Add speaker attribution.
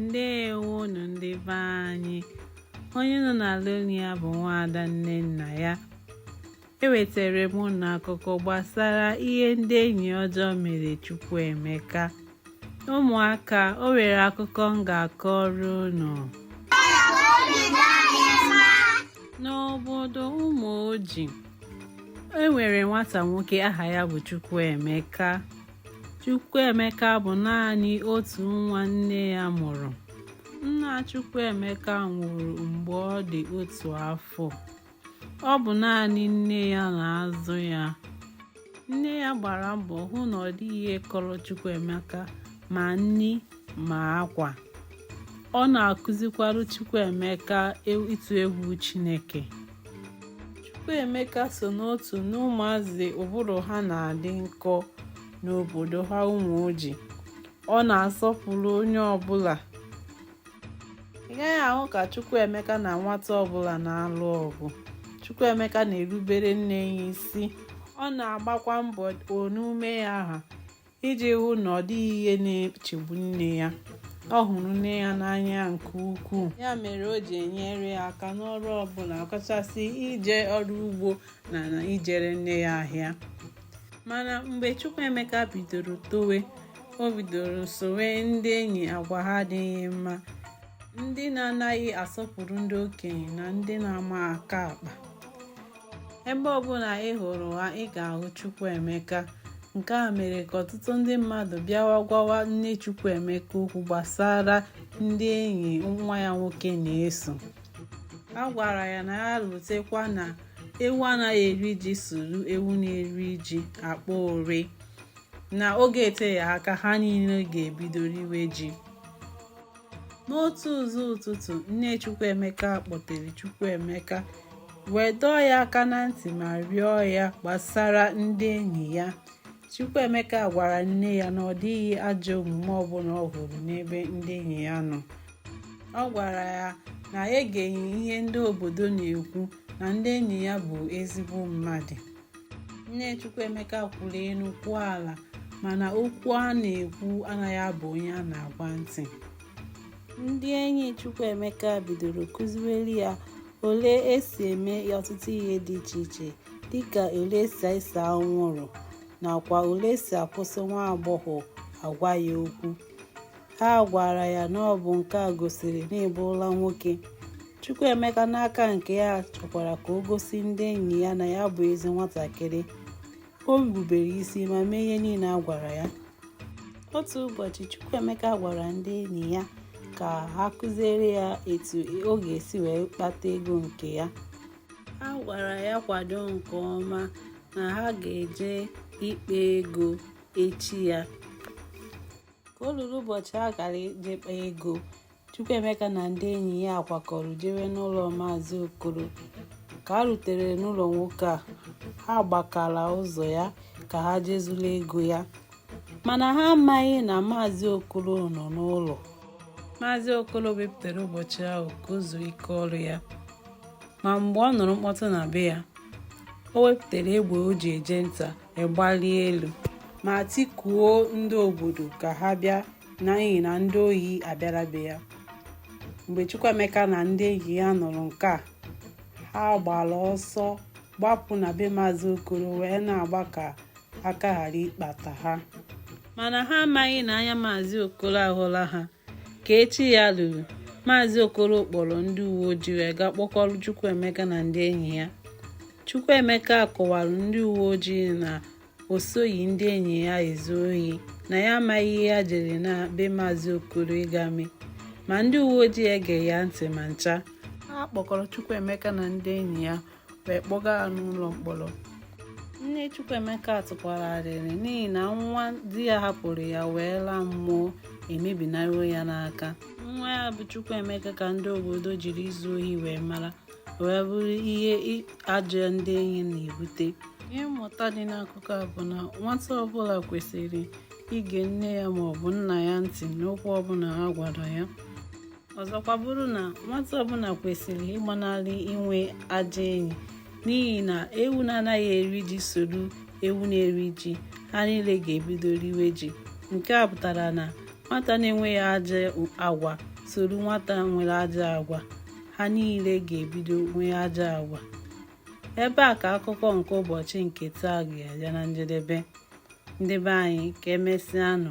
Speaker 1: ndewonu ndị be anyị onye unu na-anụ olu ya bụ nwaada Nnennaya ewetara m unu akụkọ gbasara ihe ndị enyi ọjọọ mere Chukwuemeka ụmụaka o nwere akụkọ m ga-akọrọ unu n'obodo Ụmụoji e nwere nwata nwoke aha ya bụ Chukwuemeka Chukwuemeka bụ naanị otu nwa nne ya mụrụ. Nna Chukwuemeka nwụrụ mgbe ọ dị otu afọ. Ọ bụ naanị nne ya na-azụ ya. Nne ya gbara mbọ hụ na ọ dịghị ihe kọrọ Chukwuemeka ma nni ma akwa ọ na-akụzikwara Chukwuemeka ịtụ egwu Chineke Chukwuemeka so n'otu n'ụmụazị ụbụrụ ha na-adị nkọ n'obodo ha Ụmụoji ọ na-asọpụrụ onye ọbụla ị gaghị ahụ ka Chukwuemeka na nwata ọbụla na-alụ ọgụ Chukwuemeka na-erubere nne ya isi ọ na-agbakwa mbọ one ume ya ha iji hụ na ọ dịghị ihe na-echegbu nne ya ọ hụrụ nne ya n'anya nke ukwuu ya mere o ji enyere ya aka n'ọrụ ọbụla ọkachasị ije ọrụ ugbo na na ijere nne ya ahịa mana mgbe Chukwuemeka bidoro towe o bidoro sowe ndị enyi agwa ha adịghị mma ndị na-anaghị asọpụrụ ndị okenye na ndị na-ama aka akpa ebe ọbụla ị hụrụ ha ị ga-ahụ Chukwuemeka nke a mere ka ọtụtụ ndị mmadụ bịawa gwawa nne Chukwuemeka okwu gbasara ndị enyi nwa ya nwoke na-eso a gwara ya na ya lotekwa na ewu anaghị eri ji soro ewu na-eri ji akpa ori na oge eteghị aka ha niile ga-ebido riwe ji n'otu ụzọ ụtụtụ nne chukwuemeka kpọtere chukwuemeka wee dọọ ya aka na ntị ma rịọ ya gbasara ndị enyi ya chukwuemeka gwara nne ya na ọ dịghị ajọ omume ọbụla ọ hụrụ n'ebe ndị enyi ya nọ ọ gwara ya na ya egeghị ihe ndị obodo na-ekwu na ndị enyi ya bụ ezigbo mmadụ nne chukwuemeka kwuru elu kwuo ala mana okwu a na-ekwu anaghị aba onye a na-agwa ntị ndị enyi chukwuemeka bidoro kụziwere ya ole esi eme ọtụtụ ihe dị iche iche dịka ole esi ese anwụrụ nakwa ole esi akwụsị nwa agbọghọ agwa ya okwu ha gwara ya na ọ bụ nke a gosiri na ị bụrụla nwoke Chukwuemeka n'aka nke ya chọkwara ka o gosi ndị enyi ya na ya bụ ezi nwatakịrị o rubere isi ma mee ihe niile a gwara ya otu ụbọchị Chukwuemeka gwara ndị enyi ya ka ha kụziere ya etu ọ ga-esi wee kpata ego nke ya ha gwara ya kwado nke ọma na ha ga-eje ịkpa ego echi ya ka o ruru ụbọchị a kara ije ịkpa ego Chukwuemeka na ndị enyi ya akwakọrọ jewe n'ụlọ Maazị Okoro ka ha rutere n'ụlọ nwoke a ha gbakara ụzọ ya ka ha je zuru ego ya mana ha amaghị na Maazị Okoro nọ n'ụlọ Maazị Okoro wepụtara ụbọchị ahụ ka o zuo ike ọrụ ya ma mgbe ọ nụrụ mkpọtụ na be ya o wepụtara egbe o ji eje nta gbalie elu ma tikuo ndị obodo ka ha bịa n'ihi na ndị ohi abịara be ya mgbe Chukwuemeka na ndị enyi ya nụrụ nke a ha gbara ọsọ gbapụ na be maazị Okoro wee na-agba ka aka ghara ịkpata ha mana ha amaghị na anya maazị Okoro ahụla ha ka echi ya ruru maazị okoro kpọrọ ndị uwe ojii wee gaa kpọkọrọ chukwuemeka na ndị enyi ya chukwuemeka kọwara ndị uwe ojii na o soghị ndị enyi ya ezu ohi na ya amaghị ihe ya jere na be maazị okoro ịga mee ma ndị uwe ojii egeghị ya ntị ma ncha a kpọkọrọ Chukwuemeka na ndị enyi ya wee kpọga ha n'ụlọ mkpọrọ nne Chukwuemeka tụkwara arịrị n'ihi na nwa di ya hapụrụ ya wee laa mmụọ emebinaruo ya n'aka nwa ya bụ Chukwuemeka ka ndị obodo jiri izu ohi wee mara wee bụrụ ihe ajọ ndị enyi na-ebute ihe mmụta dị n'akụkọ a bụ na nwata ọbụla kwesịrị ige nne ya maọbụ nna ya ntị n'okwu ọbụla ha gwara ya ọzọkwa bụrụ na nwata ọbụla kwesịrị ịgbanarị inwe ajọ enyi n'ihi na ewu na-anaghị eri ji soro ewu na-eri ji ha niile ga-ebido riwe ji nke a pụtara na nwata na-enweghị ajọ agwa soro nwata nwere ajọ agwa ha niile ga-ebido nwee ajọ agwa ebe a ka akụkọ nke ụbọchị nke taa ga-abịa na njedebe ndị be anyị ka emesịanụ